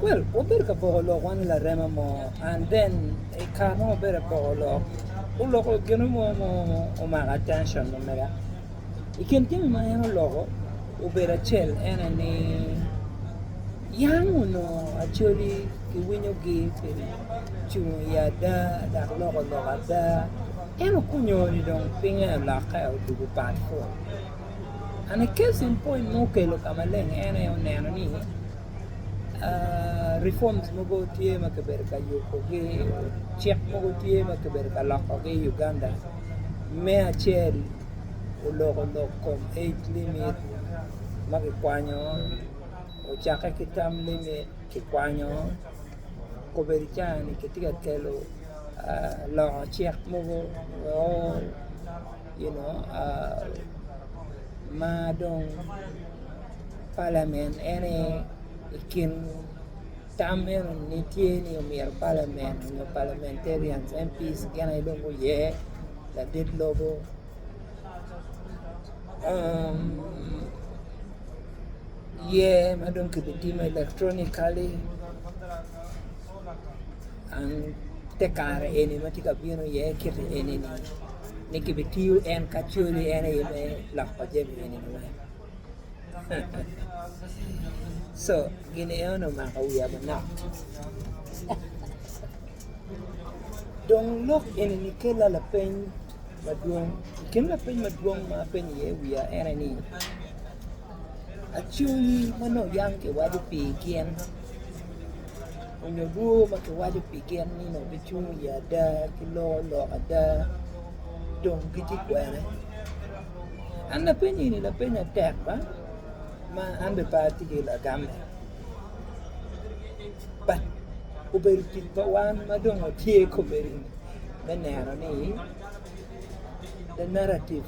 Well, wabedo ka poko lok wan i larema mo, and then i kare mo wabedo ka poko lok, oloko gino mo ma omako attention na mega. I kin jami ma en oloko obedo acel en aye ni yam onongo Acholi kiwinyogi pi cung i ada dok loko lok ada. En okonyo ni dong pinye olokke odwogo pat fut. And a case in point ma okelo ka maleng en aye oneno ni reforms mogo tye ma kibedo ka yubogi, cik mogo tye ma kibedo ka lokogi i Uganda. Me acel oloko lok kom age limit ma kikwanyo, ocakke ki term limit kikwanyo, obedo i caa-ni kitye ka kelo loko cik mogo. you know ma dong palamen en aye i kin tam eno ni tye ni omyero palamen nyo palamentarian MP's gin aye dong guye ladit lobo yer ma dong kibitimo electronically An te kare eni ma tye ka bino iye kiti eni ni kibitiyo en ka coli en aye me lok pa jami eni weng co gin eno ni omako wiya manok dong lok eni ni kela lapeny madwong i kin lapeny madwong ma apenyo iye wiya en aye ni Acungi ma nongo yam kiwaco pi gin onyo rwoo ma kiwaco pi gin ni nongo gicungo i ada ki loko lok ada dong gitye kwene an lapenyi ni lapeny atek ba ma an bene pe atye ki lagame but obedo tic pa wan ma dong watye komedi me neno ni the narrative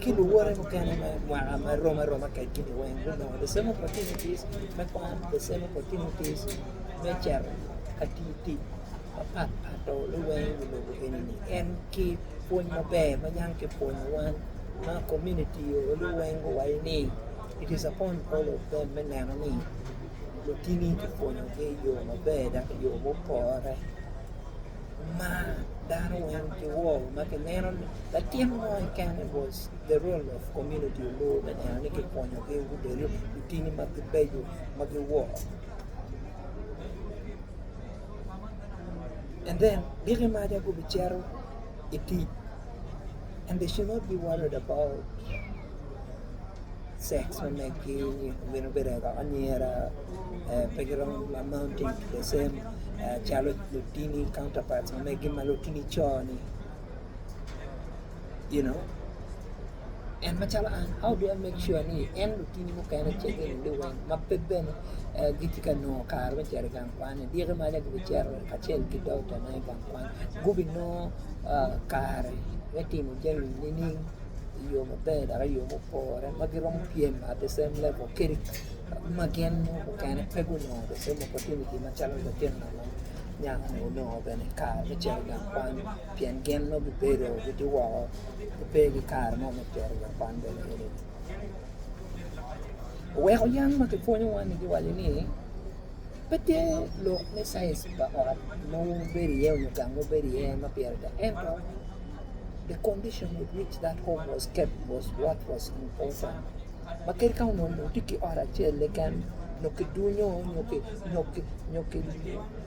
ki luwote mukene me mwaka ma rom aroma kwedgi-ni weng gunongo the same opportunities me kwan, the same opportunities me cito ka tiyo tic mapat pat dong luweny i wi lobo eni-ni. En ki pwony maber ma yam kipwonyo wan ma komuniti oo luweny guwaco ni it is upon all of them me neno ni lutini kipwonyogi i yo maber dok i yo mupore. ma dano wan kiwo ma kineno ni latin mo keken it was the role of community oloyo me neno ni kikonyogi gubedo lutini ma gibeco ma giwo and then diki maca gubicito i tic and they should not be worried about sex me meggi gin obedo kaka anyira pe giromo amounting to the same calo lutini counter parts ma meggi ma lutini co-ni you know en macalo an how do I make sure ni en lutini mukene ce girulle weng ma pe bene gitye ka nongo kare me cito i gang kwan-ni dyegi maca gubicito kacel ki doktane i gang kwan gubinongo kare me timo jami nining i yo maber dok i yo mupore ma giromo pyem at the same level kadi ma gin mukene pe gunongo the same opportunity macalo latin anyaka ni onongo bene i kare me cito gang kwan pien gin nongo gibedo gitye woko gipe ki kare mo me cito gang kwan bene enini oweko yam ma kipwonyowa-ni giwaco ni pe tye lok me caic pa ot ma wubedo iye nyo gang ma wubedo iye ma pire tek ento The condition with which that home was kept was what was important. Ma kadi ka onongo lum tye ki ot acel keken, nyo ki dunyo, nyo ki, nyo ki, nyo ki,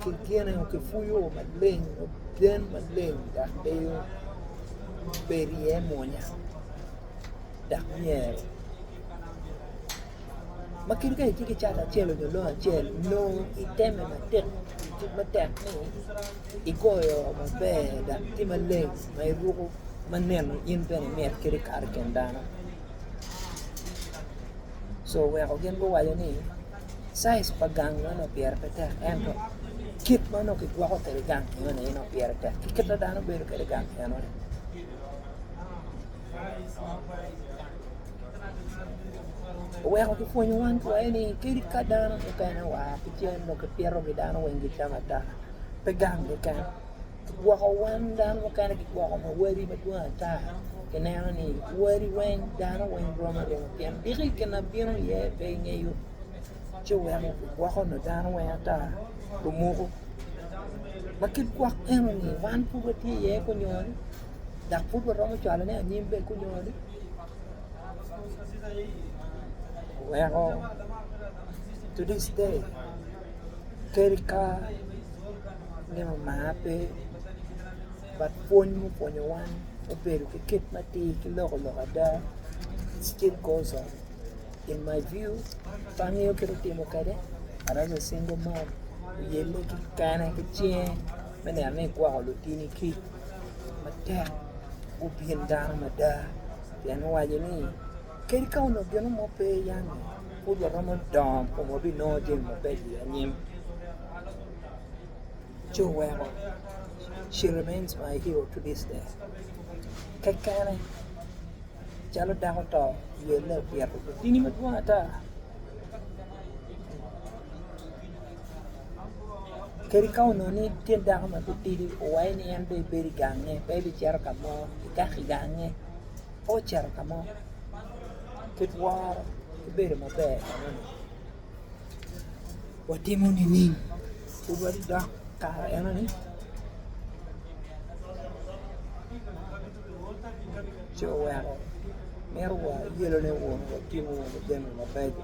ki gine, nyo ki puyo maleng, nyo gen maleng, dok deyo bed iye mwonya, dok myero. ma kadi ka itye ki cat acel nyo lobo acel nongo iteme matek tic matek ni igoyo oo maber dok tye maleng ma iruko ma neno in bene imit kadi kato i kin dano co weko gin guwaco ni caic pa gang ma nongo pire pe tek ento kit ma nongo kigwoko kwede gang enoni aye nongo pire tek ki kit ma dano bedo kwede i gang enoni. Oweko kipwonyo wan kwayo ni kadi ka dano mukene oa ki cen nongo kipitogi dano weng gicamo ata, pe gang keken. Kigwoko wan dano mukene kigwoko ma wadi madwong ata kineno ni wadi weng dano weng rom aroma pien diki gin ma bino iye pe ingeyo ci oweko kigwoko nongo dano weng ata lumuku ma kit gwok enoni wan pud watye iye kunyol. dok pud waromo cwalone anyim bene kunyo ni oweko to this day kadi ka nino mar pe but pwony mupwonyo wan obedo ki kit matir ki loko lok ada it still goes on in my view pe angeyo kit atimo kwede but as a single mom oyelle kikene ki cinge me neno ni igwoko lutini kic matek gubin dano mada pien owaco ni kadi ka onongo gino mo pe yani pud waromo dongo kun wabinongo jami mabeco i anyim ci oweko she remains my hero to this day kekene calo dako to ywelle opito lutini madwong ata. Kadi ka onongo ni tyen dako ma titidi owaye ni en dong ebedo i gange pe ebicito ka mo, ikato i gange pe ocito ka mo kit woro ki bedo maber enoni watimo nining? Pud wadok kare enoni ci oweko mito woro yelone woko watimo wunu jami mabeco.